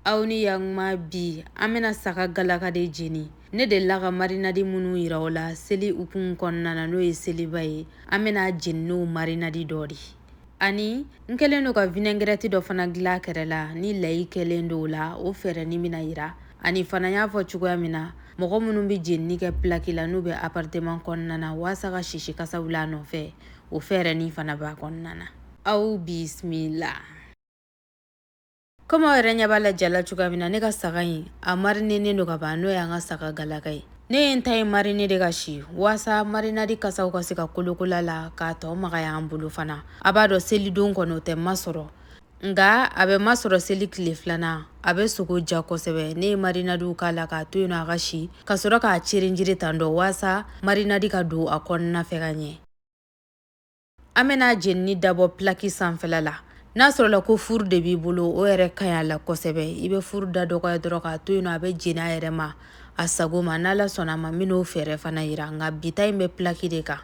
aw ni yaguma bi an bɛna saga galaka de jeni ne delila ka marinadi minnu yira o la seli hukumu kɔnɔna na n'o ye seliba ye an bɛna a jeni n'o marinadi dɔ de ani n kɛlen don ka vinɛgɛrɛti dɔ fana dilan kɛrɛ la ni layi kɛlen don o la o fɛɛrɛnin bɛna yira ani fana y'a fɔ cogoya min na mɔgɔ minnu bɛ jenini kɛ pilaki la n'u bɛ aparteman kɔnɔna na waasa ka sisi kasa wuli a nɔfɛ o fɛɛrɛnin fana b'a kɔnɔna na aw bisimila Kɔmi aw yɛrɛ ɲɛ b'a la ja la cogoya min na ne ka saga in a marinenen don ka ban n'o y'an ka saga galaka ye ne ye n ta in marine de ka si waasa marinadi kasaw ka se ka kolokola la k'a tɔ magaya an bolo fana a b'a dɔn selidon kɔnɔ o tɛ masɔrɔ nka a bɛ masɔrɔ seli tile filanan a bɛ sogo diya kosɛbɛ ne ye marinadiw k'a la k'a to yen nɔ a ka si ka sɔrɔ k'a cirinjiri tantɔ waasa marinadi ka don a kɔnɔna fɛ ka ɲɛ an bɛna jenini dabɔ plaki sanfɛla la n'a sɔrɔla ko furu de b'i bolo o yɛrɛ ka ɲi a la kosɛbɛ i bɛ furu da dɔgɔya dɔrɔn k'a to yen nɔ a bɛ jeni a yɛrɛ ma a sago ma n'Ala sɔnna a ma n bɛn'o fɛɛrɛ fana yira nka bi ta in bɛ plaki de kan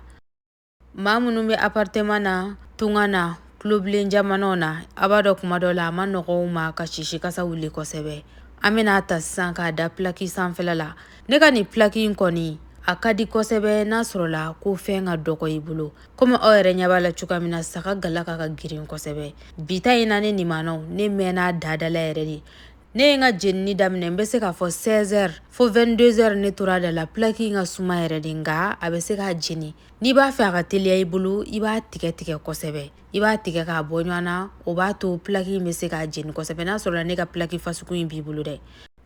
maa minnu bɛ aparteman na tunga na tulobilen jamanaw na a b'a dɔn kuma dɔ la a man nɔgɔ u ma ka sisi kasa wuli kosɛbɛ an bɛna a ta sisan k'a da plaki sanfɛla la ne ka nin plaki in kɔni a ka di kosɛbɛ n'a sɔrɔla ko fɛn ka dɔgɔ i bolo komi aw yɛrɛ ɲɛ b'a la cogoya min na saga galaka ka girin kosɛbɛ bi ta in na ne nimanaw ne mɛnna dadala yɛrɛ de ne ye n ka jenini daminɛ n bɛ se k'a fɔ 16h fo 22h ne tora a da la plaki in ka suma yɛrɛ de nka a bɛ se k'a jeni n'i b'a fɛ a ka teliya i bolo i b'a tigɛ tigɛ kosɛbɛ i b'a tigɛ k'a bɔ ɲɔgɔn na o b'a to plaki in bɛ se k'a jeni kosɛbɛ n'a sɔrɔla ne ka plaki fasuku in b'i bolo dɛ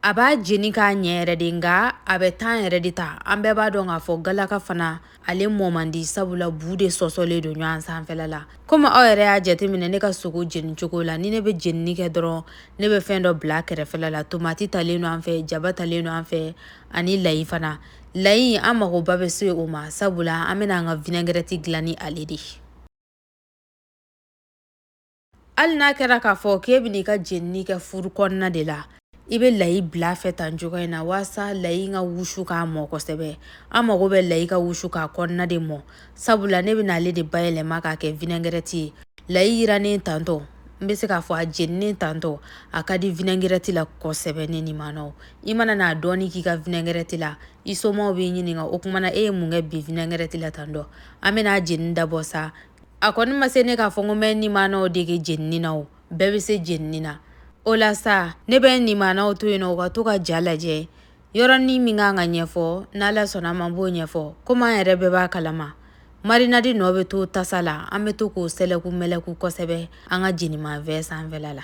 a b'a jeni k'a ɲɛ yɛrɛ de nka a bɛ tan yɛrɛ de ta an bɛɛ b'a dɔn k'a fɔ galaka fana ale mɔ man di sabula bu de sɔsɔlen don ɲɔgɔn sanfɛla la komi aw yɛrɛ y'a jateminɛ ne ka sogo jeni cogo la ni ne bɛ jenini kɛ dɔrɔn ne bɛ fɛn dɔ bila kɛrɛfɛla la tomati talen don an fɛ jaba talen don an fɛ ani layi fana layi an magoba bɛ se o ma sabula an bɛna an ka vinɛgɛrɛti dilan ni ale de hali n'a kɛra k'a fɔ k'e bɛn'i ka jenini kɛ furu kɔnɔna de la i bɛ layi bila fɛ tan cogo in na waasa layi ka wusu k'a mɔ kosɛbɛ an mago bɛ layi ka wusu k'a kɔnɔna de mɔ sabula ne bɛna ale de bayɛlɛma k'a kɛ vinɛgɛrɛti ye layi yiranen tantɔ n bɛ se k'a fɔ a jeninen tantɔ a ka di vinɛgɛrɛti la kosɛbɛ ne nimanaw i mana n'a dɔɔni k'i ka vinɛgɛrɛti la i somaw b'i ɲininka o kuma na e ye mun kɛ bi vinɛgɛrɛti la tantɔ an bɛna jenini dabɔ sa a kɔni ma se ne k'a fɔ ko n bɛ nimanaw dege jenini na o bɛɛ bɛ se jenini na o la sa ne bɛ nimanaw to yen na u ka to ka ja lajɛ yɔrɔnin min ka kan ka ɲɛfɔ n'Ala sɔnna a ma n b'o ɲɛfɔ komi an yɛrɛ bɛɛ b'a kalama marinadi nɔ bɛ to tasa la an bɛ to k'o sɛlɛku mɛlɛku kosɛbɛ an ka jenimafɛn sanfɛla la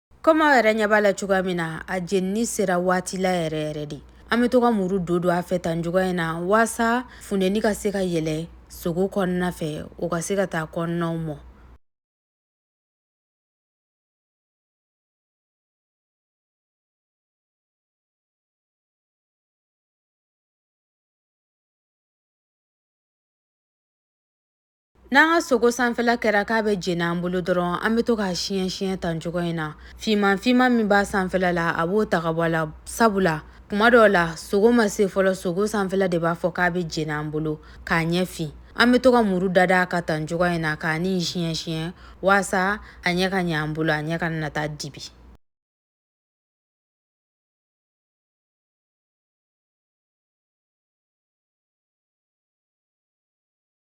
kɔmi aw yɛrɛ ɲɛ b'a la cogoya min na a jenini sera waati la yɛrɛ yɛrɛ de an bɛ to ka muru don don a fɛ tan cogoya in na waasa funteni ka se ka yɛlɛ sogo kɔnɔna fɛ o ka se ka taa kɔnɔnaw mɔ N'an ka sogo sanfɛla kɛra k'a bɛ jeni an bolo dɔrɔn an bɛ to k'a siɲɛ siɲɛ tan cogoya in na finman finman min b'a sanfɛla la a b'o ta ka bɔ a la sabu la kuma dɔw la sogo ma se fɔlɔ sogo sanfɛla de b'a fɔ k'a bɛ jeni an bolo k'a ɲɛ fin an bɛ to ka muru dada a kan tan cogoya in na k'a ni siɲɛ siɲɛ waasa a ɲɛ ka ɲɛ an bolo a ɲɛ kana na taa dibi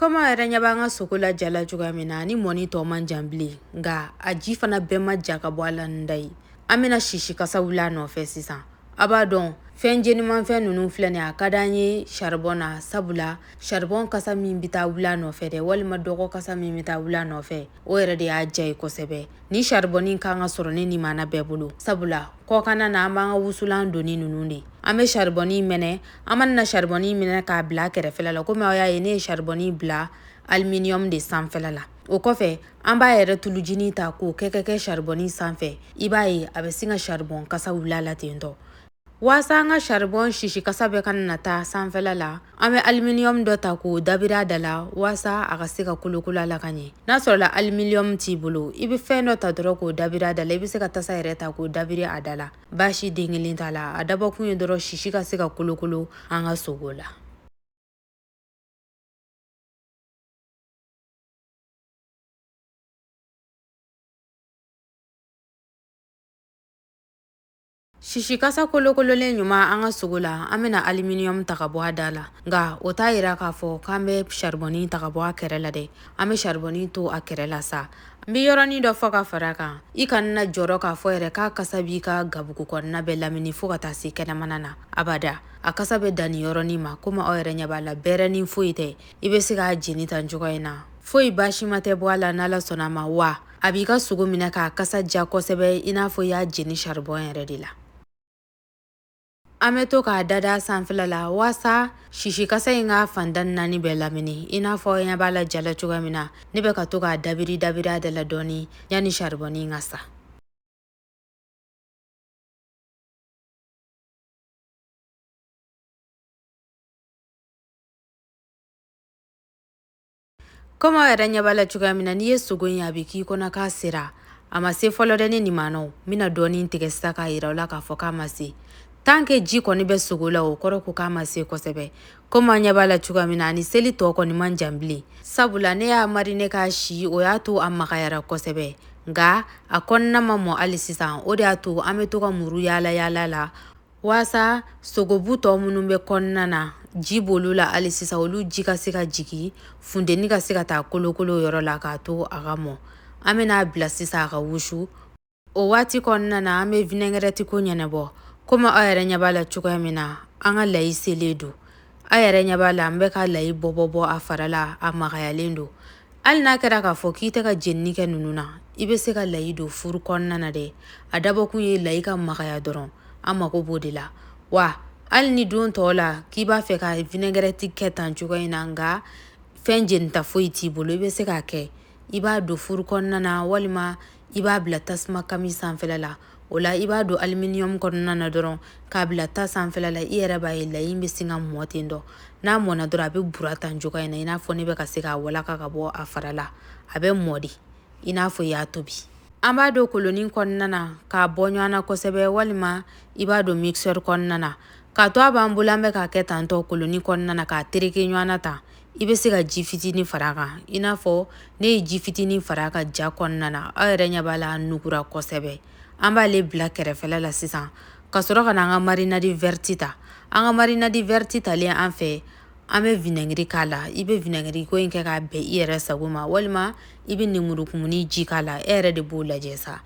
kɔmi aw yɛrɛ ɲɛ b'an ka sogo lajala cogoya min na ni mɔni tɔ man jan bilen nka a ji fana bɛɛ ma ja ka bɔ a la da ye an bɛna sisi kasa wuli a nɔfɛ sisan a b'a dɔn fɛn jenimanfɛn ninnu filɛ nin a ka di an ye saribɔn na sabula saribɔn kasa min bɛ taa wuli a nɔfɛ dɛ walima dɔgɔ kasa min bɛ taa wuli a nɔfɛ o yɛrɛ de y'a diya ye kosɛbɛ ni saribɔnin kan ka sɔrɔ ne nimana bɛɛ bolo sabula kɔkanna na an b'an ka wusulan doni ninnu de an bɛ saribɔnin mɛnɛ an mana na saribɔni minɛ k'a bila kɛrɛfɛla la komi aw y'a ye ne ye saribɔni bila aluminium de sanfɛla la o kɔfɛ an b'a yɛrɛ tulujini ta k'o kɛ ka kɛ saribɔni sanfɛ i b'a ye a bɛ sin ka saribɔn kasa wuli a la ten tɔ Waasa an ka saribɔn sisi kasa bɛɛ kana na taa sanfɛla la an bɛ aluminium dɔ ta k'o dabiri a da la waasa a ka se ka kolokolo a la ka ɲɛ n'a sɔrɔla aluminium t'i bolo i bɛ fɛn dɔ ta dɔrɔn k'o dabiri a da la i bɛ se ka tasa yɛrɛ ta k'o dabiri a da la baasi den kelen t'a la a dabɔkun ye dɔrɔn sisi ka se ka kolokolo an ka sogo la sisi kasa kolokololen ɲuman an ka sogo la an bɛna aluminium ta ka bɔ a da la nka o t'a yira k'a fɔ k'an bɛ charbonnin ta ka bɔ a kɛrɛ la dɛ an bɛ saribɔn in to a kɛrɛ la sa n bɛ yɔrɔnin dɔ fɔ ka fara kan i kana jɔrɔ k'a fɔ yɛrɛ k'a kasa b'i ka gabugu kɔnɔna bɛɛ lamini fo ka taa se kɛnɛmana na abada a kasa bɛ dan nin yɔrɔnin ma komi aw yɛrɛ ɲɛ b'a la bɛrɛnin foyi tɛ i bɛ se k'a jeni tan cogoya in na foyi baasima tɛ bɔ a la n'ala sɔnna a ma wa a b'i ka sogo minɛ k'a kasa ja kosɛbɛ i n'a fɔ i y'a jeni saribɔn yɛrɛ de la An bɛ to k'a dada sanfɛla la walasa sisi kasa in ka fanda naani bɛɛ lamini i n'a fɔ ɲɛ b'a la ja la cogoya min na ne bɛ ka to k'a dabiri dabiri a da la dɔɔnin yanni saribɔn in ka sa Komi aw yɛrɛ ɲɛ b'a la cogoya min na n'i ye sogo in ye a bɛ k'i kɔnɔ k'a sera a ma se fɔlɔ dɛ ne nin maana n bɛna dɔɔnin tigɛ sisan k'a yira aw la k'a fɔ k'a ma se tant que ji kɔni bɛ sogo la o kɔrɔ ko k'a ma se kosɛbɛ komi aw ɲɛ b'a la cogoya min na ani seli tɔ kɔni man jan bilen sabula ne y'a marine k'a si o y'a to a magayara kosɛbɛ nka a kɔnɔna ma mɔ hali sisan o de y'a to an bɛ to ka muru yaala yaala la walasa sogobu tɔ minnu bɛ kɔnɔna na ji b'olu la hali sisan olu ji ka se ka jigin funteni ka se ka taa kolokolo yɔrɔ la k'a to a ka mɔ an bɛna a bila sisan a ka wusu o waati kɔnɔna na an bɛ vinɛgɛrɛti ko ɲɛnabɔ komi aw yɛrɛ ɲɛ b'a la cogoya min na an ka layi selen don aw yɛrɛ ɲɛ b'a la an bɛ ka layi bɔ bɔ bɔ a fara la a magayalen don hali n'a kɛra k'a fɔ k'i tɛ ka jenini kɛ ninnu na i bɛ se ka layi don furu kɔnɔna na dɛ a dabɔkun ye layi ka magaya dɔrɔn an mago b'o de la wa hali ni don tɔw la k'i b'a fɛ ka vinɛgɛrɛti kɛ tan cogo in na nka fɛn jenita foyi t'i bolo i bɛ se k'a kɛ i b'a don furu kɔnɔna na walima i b'a bila tasuma kami sanfɛla la o la i b'a don aluminium kɔnɔna na dɔrɔn k'a bila ta sanfɛla la i yɛrɛ b'a ye layi in bɛ sin ka mɔ ten dɔ n'a mɔna dɔrɔn a bɛ bura tan cogoya in na i n'a fɔ ne bɛ ka se k'a walaka ka bɔ a fara la a bɛ mɔ de i n'a fɔ i y'a tobi an b'a don kolonin kɔnɔna na k'a bɔ ɲɔgɔn na kosɛbɛ walima i b'a don mixeur kɔnɔna na k'a to a b'an bolo an bɛ k'a kɛ tantɔ kolonin kɔnɔna na k'a tereke ɲɔgɔn na tan i bɛ se ka ji fitinin fara a kan i n'a fɔ ne ye ji fitinin fara a kan ja kɔnɔna na aw yɛrɛ ɲɛ b'a la a nugura kosɛbɛ an b'ale bila kɛrɛfɛla la sisan ka sɔrɔ ka na an ka marinadi vɛriti ta an ka marinadi vɛriti talen an fɛ an bɛ vinɛgiri k'a la i bɛ vinɛgiri ko in kɛ k'a bɛn i yɛrɛ sago ma walima i bɛ lemurukumuni ji k'a la e yɛrɛ de b'o lajɛ sa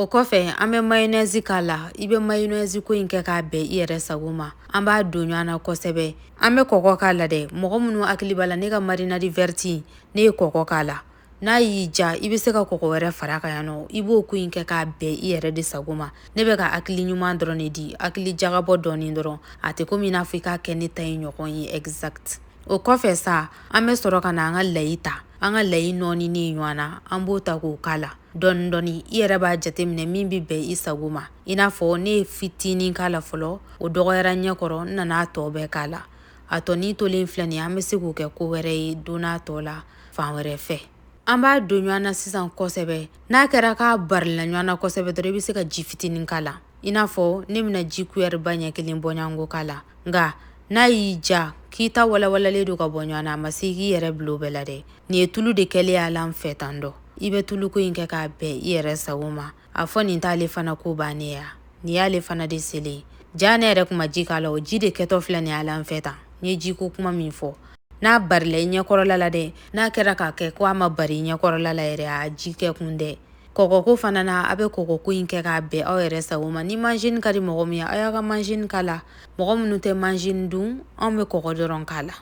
O kɔfɛ an bɛ mayonnaise k'a la i bɛ mayonnaise ko in kɛ k'a bɛn i yɛrɛ sago ma an b'a don ɲɔgɔn na kosɛbɛ an bɛ kɔgɔ k'a la dɛ mɔgɔ minnu hakili b'a la ne ka marinade verte ne ye kɔgɔ k'a la n'a y'i ja i bɛ se ka kɔgɔ wɛrɛ fara a kan yan nɔ i b'o ko in kɛ k'a bɛn i yɛrɛ de sago ma ne bɛ ka hakili ɲuman dɔrɔn de di hakili jagabɔ dɔɔnin dɔrɔn a tɛ komi i n'a fɔ i k'a kɛ ne ta in ɲɔgɔn ye exact o kɔfɛ sa an bɛ sɔrɔ ka na an ka layi ta an ka layi nɔɔninen in ɲɔgɔn na an b'o ta k'o k'a la dɔɔni dɔɔni i yɛrɛ b'a jateminɛ min bɛ bɛn i sago ma i n'a fɔ ne ye fitinin k'a la fɔlɔ o dɔgɔyara ɲɛ kɔrɔ n nana a tɔ bɛɛ k'a la a tɔnin tolen filɛ nin ye an bɛ se k'o kɛ ko wɛrɛ ye don natɔ la fan wɛrɛ fɛ an b'a don ɲɔgɔn na sisan kosɛbɛ n'a kɛra k'a barila ɲɔgɔn na kosɛbɛ dɔrɔn i bɛ se ka ji fitinin k'a la i n'a fɔ ne bɛna ji kuyɛriba ɲɛ kelen bɔɲɔgɔnko k'a la nka n'a y'i ja k'i ta walawalalen don ka bɔ ɲɔgɔn na a ma se k'i yɛrɛ bila o bɛɛ la dɛ nin ye tulu de kɛlen y'a la n fɛ tan dɔ i bɛ tuluko in kɛ k'a bɛn i yɛrɛ sago ma a fɔ nin t'ale fana ko bannen ya nin y'ale fana de selen jaa ne yɛrɛ tun ma ji k'a la o ji de kɛtɔ filɛ nin y'a la n fɛ tan n ye jiko kuma min fɔ n'a barila i ɲɛkɔrɔla la dɛ n'a kɛra k'a kɛ ko a ma bari i ɲɛkɔrɔla la yɛrɛ a ji kɛ kun tɛ kɔgɔko fana na a bɛ kɔgɔko in kɛ k'a bɛn aw yɛrɛ sago ma ni majinin ka di mɔgɔ min ye aw y'a ka majinin k'a la mɔgɔ minnu tɛ majinin dun anw bɛ kɔgɔ dɔrɔn k'a la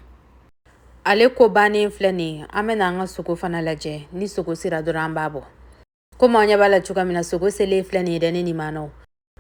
ale ko bannen filɛ nin an bɛna an ka sogo fana lajɛ ni sogo sera dɔrɔn an b'a bɔ komi aw ɲɛ b'a la cogoya min na sogo selen filɛ nin ye dɛ ne nimanaw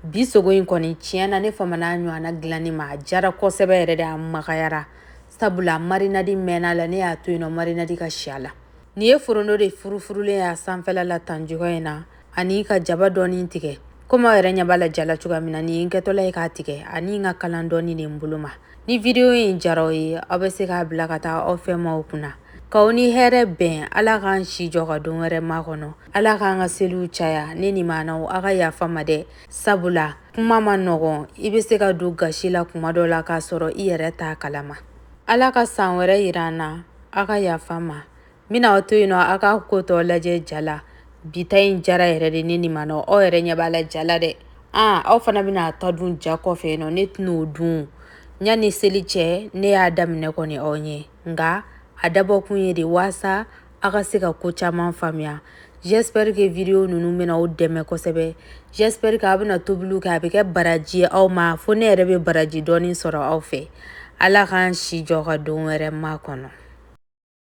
bi sogo in kɔni tiɲɛ na ne famana a ɲɔgɔnna dilanni ma a jara kosɛbɛ yɛrɛ de a magayara sabula marinadi mɛnna a la ne y'a to yen nɔ marinadi ka si a la nin ye foronto de furufurulen y'a sanfɛla la tan cogoya in na ani ka jaba dɔɔni tigɛ komi aw yɛrɛ ɲɛ b'a la ja la cogoya min na nin ye n kɛtɔla ye k'a tigɛ ani n ka kalan dɔɔni de n bolo ma ni video in jara aw ye aw bɛ se k'a bila ka taa aw fɛ maaw kunna k'aw ni hɛrɛ bɛn ala k'an si jɔ ka don wɛrɛ makɔnɔ ala k'an ka seliw caya ne nimanaw aw ka yafa n ma dɛ sabula kuma man nɔgɔn i bɛ se ka don gasi la kuma dɔ la k'a sɔrɔ i yɛrɛ t'a kalama ala ka san wɛrɛ yira an na aw ka yafa n ma N bɛna aw to yen nɔ aw ka ko tɔ lajɛ ja la bi ta in jara yɛrɛ de ne nimanaw aw yɛrɛ ɲɛ b'a la ja la dɛ aa aw fana bɛna a ta dun ja kɔfɛ yen nɔ ne tɛna o dun yanni seli cɛ ne y'a daminɛ kɔni aw ɲɛ nka a dabɔkun ye de waasa aw ka se ka ko caman faamuya j'espère que video ninnu bɛna aw dɛmɛ kosɛbɛ j'espère que aw bɛna tobiliw kɛ a bɛ kɛ baraji ye aw ma fo ne yɛrɛ bɛ baraji dɔɔni sɔrɔ aw fɛ ala k'an si jɔ ka don wɛrɛ makɔnɔ